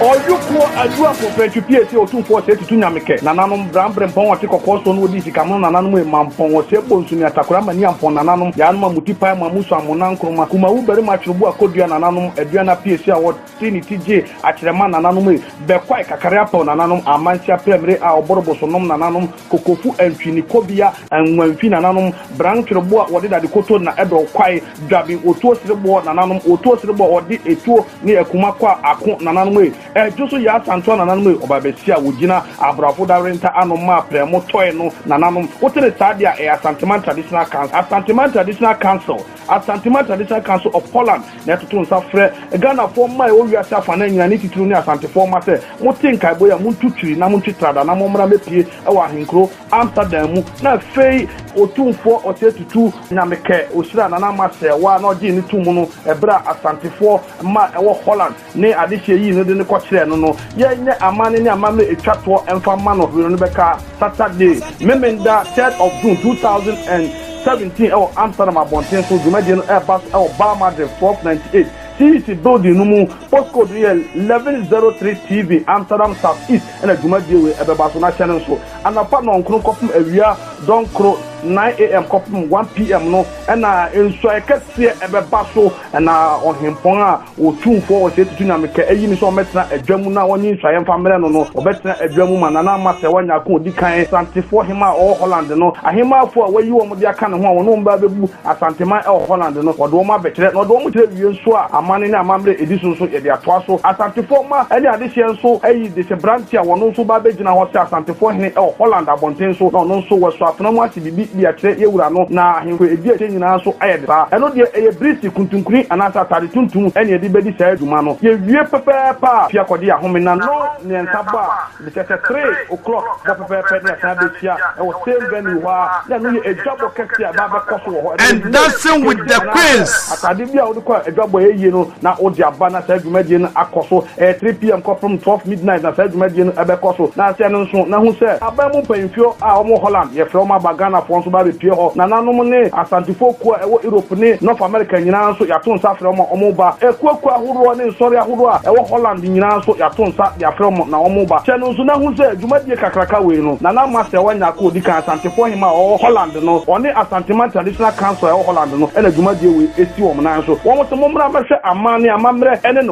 Ɔyokoɔ aduafoɔ fɛ ntwe pie se Otumfoɔ ɔsɛe tutu Nyame kɛ nananom bra mbre mpɔn ɔte kɔkɔɔ soɔ no wɔdi nsikamono nananom e ma mpɔn ɔsɛe bɔ nsu ne atakora ma nia mpɔn nananom yaanom a muti pae mo amu so amo nan nkroma kumawu barima twere bo akodua nananom aduane apie se a ɔte ne ti gyee akyerɛ ma nananom e bɛkwae kakare apɛw nananom amansia prɛ mbre a ɔborobo so nom nananom Kokofu antwi ne kobia anwa mfi nananom bran twere bo a wɔde dade koto nna ɛdɔw kwae dwaben otuo sere boɔ nananom otuo sere boɔ ɔde etuo ne akuma kɔ a ako nananom ei ɛdwo so yɛ asantoa nananom ei ɔba bɛsi a wɔgyina abrafo dawerenta ano mma aprɛ mo tɔe no nananom wote ne saa deɛ a ɛyɛ Asanteman Traditional Council Asanteman Traditional Council Asanteman Traditional Council of Poland Na yɛtoto nsa frɛ Ghanafoɔ mma a ɛwɔ wiase afanan nyinaa ne titiriw ne Asantefoɔ mma sɛ, mote nkaebɔ yi a, montu twiri na montwe trada na mommra mmɛpue wɔ ahenkuro Amsterdam mu. Na afei. Otumfoɔ Ɔsɛe Tutu, Nyame kɛ, ɔhyiraa Nana Marcel, wa, na ɔgyee no to mu no, ɛberɛ a Asantefoɔ mma a ɛwɔ Holland, ne adehyeɛ yii no de no kɔkyerɛɛ no no, yɛnyɛ amanne ne amammerɛ ɛtwa toɔ mfa mma no, Hwere no bɛka Saturday, Memenda, third of June, two thousand and seventeen ɛwɔ Amsterdam abɔnten so, dwumadie no ɛreba so ɛwɔ Bouwmadrecht twelve ninety eight CEC building no mu, postcode no yɛ eleven zero three TV, Amsterdam South East na dwumadie wei ɛbɛba so, na hyɛ no nso anɔpa nnɔnkron kɔpem awia dɔnkoro, nine AM kɔpem one PM, no na nsuaeɛ kɛseɛ ɛbɛba so. Na ɔhempɔn a otumfoɔ wɔ sɛ tutu nyamekɛ ayi no sɛ ɔmmɛtena adwa mu na wɔnyi nsɔeɛ mfa mmrɛ no no, ɔbɛtena adwa mu ma Nana Ama Sewa Nyarko a ɔdi kan, Santefoɔ hemmaa a ɔwɔ Holland no. Ahemmafoɔ a wɔayi wɔn de aka ne ho a wɔne wɔn ba abɛbu Asanteman wɔ Holland no, wɔde wɔn abɛkyerɛ, na wɔde wɔn kyerɛ awie nso a, amanne ne amammerɛ a ɛdi so nso, yɛde atoa so. Asantefoɔ mma ne adehyeɛ nso ayi desebranteɛ a ɔno nso ba abɛgyina hɔ sɛ Asantefoɔ hene wɔ Holland abɔnten so, na ɔno nso, wɔasɔ afena mu ase. biribi de akyerɛ yɛn Wura no, na ahemfo a edi akyire nyinaa nso ayɛ de saa. Ɛno deɛ, ɛyɛ birisi, kuntunkuni, anaasɛ atade tuntum ne yɛde bɛdi saa dwuma no. Yɛwie pɛpɛɛpɛ a, fi akɔgye yɛn ahome, na no ne nsa bɔ a, ɛde kyerɛ sɛ three O'clock bɔ pɛpɛɛpɛ na yɛasan abɛhyia wɔ same venue hɔ ara, na ɛno yɛ adwabɔ kɛseɛ a ɛbɛba abɛkɔ so wɔ hɔ ɛnnɛ. And Dancing with the Queens. Atade bi a wode kɔ adwabɔ a ɛyɛ yie no na wode aba na saa dwumadie no akɔ so. Ɛyɛ three PM kɔpem twelve midnight na saa dwumadie no ɛbɛkɔ so. Na sɛ no nso na hu sɛ aban mu mpanyinfoɔ a wɔn wɔ Holland yɛfrɛ wɔn aba Ghanafoɔ nso ba bɛpue hɔ. Nananom ne Asantefoɔ kuo a ɛwɔ Europe ne North America nyinaa nso yɛato nsa afrɛ wɔn a wɔn ba. Akuakuo ahoroɔ ne nsɔre ahoroɔ a ɛwɔ Holland nyinaa nso yɛato nsa de afrɛ wɔn na wɔn ba. Sɛ no nso na hu sɛ dwumadie kakraka wei no Nana Masewa Nyarko a ɔdi kan Asantefoɔ Hemmaa a ɔwɔ Holland no, ɔne Asanteman Traditional Council a ɛwɔ Holland no na dwumadie wei si wɔn nan so. Wɔn se mommra mmɛhwɛ aman ne amammerɛ ne.